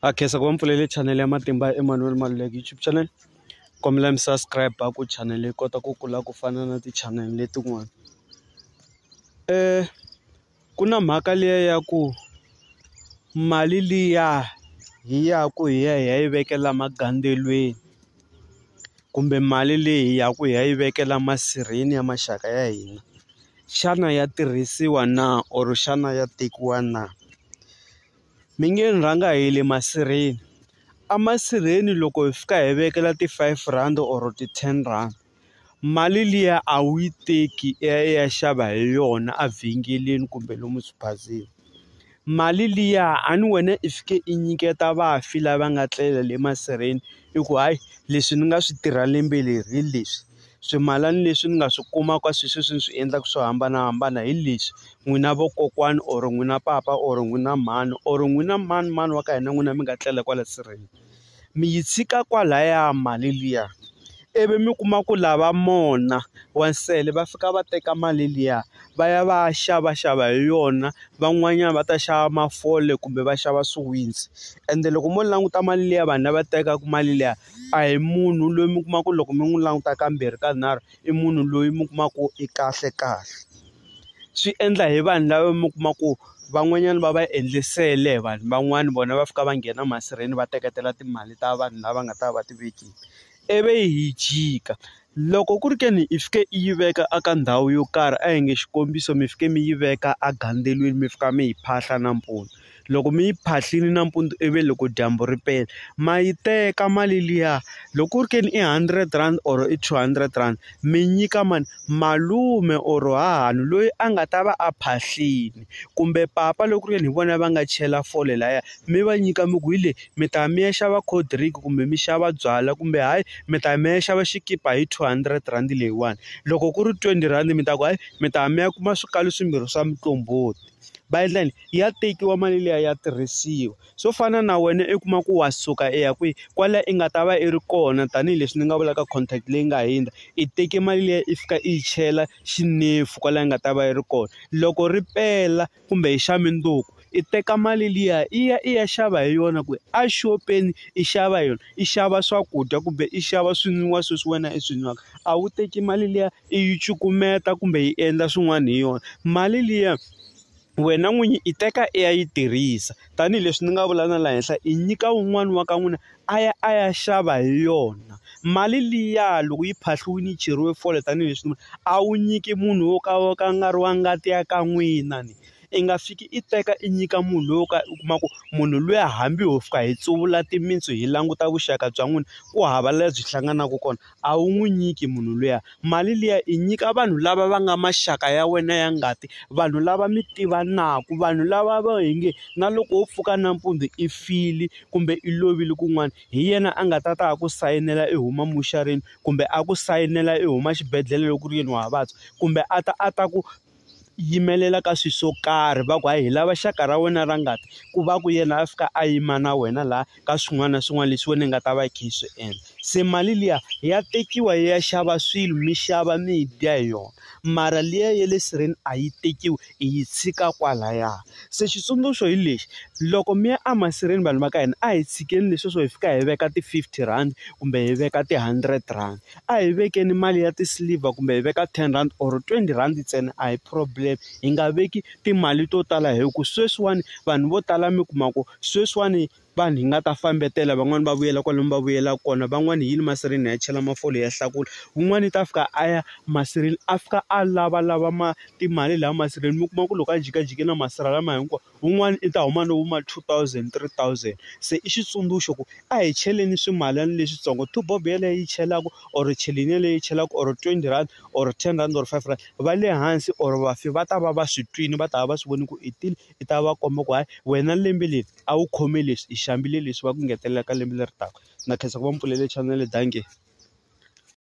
ha khensa ku va mpfulele chanele ya matimba ya Emmanuel Maluleke YouTube channel kombela mi subscribe ku chanele yi kota ku kula ku fana na ti-channel letin'wana um ku na mhaka liya ya ku mali liya hi ya ku hi ya hi ya yi vekela magandzeliweni kumbe mali leyi hi ya ku hi ya yi vekela masirheni ya maxaka ya hina xana ya tirhisiwa na or xana ya tekiwa na. Mi nge ni rhanga hi le masirheni a masirheni loko hi fika hi vekela ti-five rand or ti-ten rand mali liya a wu yi teki i ya i ya xava hi yona evhengeleni kumbe lomu swibazini mali liya a ni wena i fike i nyiketa vafi lava nga tlela le masirheni i ku hayi leswi ni nga swi tirha lembe leri hi leswi. swimalana leswi ni nga swi kumaka sweswi leswi ni swi endlaka swo hambanahambana hi leswi n'wina vokokwani or n'wina papa or n'wina mhani or n'wina manimani wa ka hina n'wina mi nga tlela kwala sirheni mi yi tshika kwalaya mali liya ivi mi kuma ku lava mona wa nsele va fika va teka mali liya va ya va ya xavaxava hi yona van'wanyana va ta xava mafole kumbe va xava swiwitsi ende loko mo languta mali liya vanhu lava tekaka mali liya. a hi munhu loyi mi kuma ku loko mi n'wi languta kambirhi ka nharhu i munhu loyi mi kuma ku i kahle kahle swi endla hi vanhu lava mi kuma ku van'wanyana va va endle nsele hi vanhu van'wani vona va fika va nghena masirheni va teketela timali ta vanhu lava nga ta va ti vekile ivi hi jika Loko ku ri ke ni i fike i yi veka a ka ndhawu yo karhi a hi nge xikombiso mi fike mi yi veka a gandzelweni mi fika mi yi phahla nampundzu loko mi yi phahlini nampundzu ivi loko dyambu ri pela ma yi teka mali liya loko ku ri ke ni i hundred rand or i two hundred rand mi nyika mani malume or hahani loyi a nga ta va a phahlini kumbe papa loko ku ri yini hi vona va nga chela fole laya mi va nyika mi ku hi leyi mi ta ya mi ya xava cold drink kumbe mi xava byalwa kumbe hayi mi ta ya mi ya xava xikipa hi two hundred rhandi leyiwani loko ku ri twenty rhandi mi ta ku hayi mi ta ya mi ya kuma swikalo swimbirhi swa muqombhoti va endla yini ya tekiwa mali liya ya tirhisiwa swo fana na wena i kuma ku wa suka i ya kwihi kwala i nga ta va i ri kona tanihileswi ni nga vulaka contract leyi nga hundza i teke mali liya i fika i yi chela xinefu kwala i nga ta va yi ri kona loko ri pela. kumbe hi xa mindzuku i teka mali liya i ya i ya xava hi yona ku a xopeni i xava hi yona i xava swakudya kumbe i xava swinwiwa sweswi wena i swi nwaka a wu teki mali liya i yi cukumeta kumbe yi endla swin'wana hi yona mali liya wena n'winyi i teka i ya yi tirhisa tanihileswi ni nga vula na laha henhla i nyika wun'wani wa ka n'wina a ya a ya xava hi yona mali liya loko yi phahliwile yi cheriwe fole tanihileswi a wu nyiki munhu wo ka wo ka a nga ri wa ngati ya ka n'wina ni i nga fiki i teka i nyika munhu loyi wo ka u kuma ku munhu luya hambi ho fika hi tsuvula timintsu hi languta vuxaka bya n'wina ku hava laha byi hlanganaka kona. a wu n'wi nyiki munhu luya mali liya i nyika vanhu lava va nga maxaka ya wena ya ngati vanhu lava mi tivanaku vanhu lava va hi nge na loko wo pfuka nampundzu i file kumbe i lovile kun'wana hi yena a nga ta ta a ku sayinela i huma muxarini kumbe a ku sayinela i huma xibedhlele loko ku ri yini wa vabya kumbe a ta a ta ku yimelela ka swilo swo karhi va ku hayi hi lava xaka ra wena ra ngati ku va ku yena a fika a yima na wena laha ka swin'wana na swin'wana leswi wena ni nga ta va yi kha yi swi endla se mali liya ya tekiwa yi ya xava swilo mi xava mi dya hi yona mara liya ya le sireni a yi tekiwi i yi tshika kwalaya se xitsundzuxo hi lexi loko mi ya a masirheni vanhu va ka hina a hi tshikeni leswi swo hi fika hi veka ti-fifty rhandi kumbe hi veka ti-hundred rand. a hi vekeni mali ya ti-silver kumbe hi veka ten rand or twenty rand ntsena a hi problem hi nga veki timali to tala hi ku sweswiwani vanhu vo tala mi kuma ku sweswiwani vanhu hi nga ta fambetela van'wani va vuyela kwala va vuyela kona van'wani hi yini masirheni hi ya chela mafole ya hlakula wun'wani u ta fika a ya masirheni a fika a lavalava ma timali laha masirheni mi kuma ku loko a jikajike na masirha lama hinkwawo. wun'wana i ta huma no huma two thousand three thousand se i xitsundzuxo ku a hi cheleni swimalana leswitsongo two bob yeleyo yi chelaku or cheleni yeleyo yi chelaku or twenty rand or ten rand or five rand va le hansi or vafi va ta va va swi twini va ta va va swi voni ku i tini i ta va komba ku hayi wena lembe leri a wu khome leswi i xambile leswi va ku ngetelela ka lembe leri taka na khensa ku va mi pfulele chanele dankie.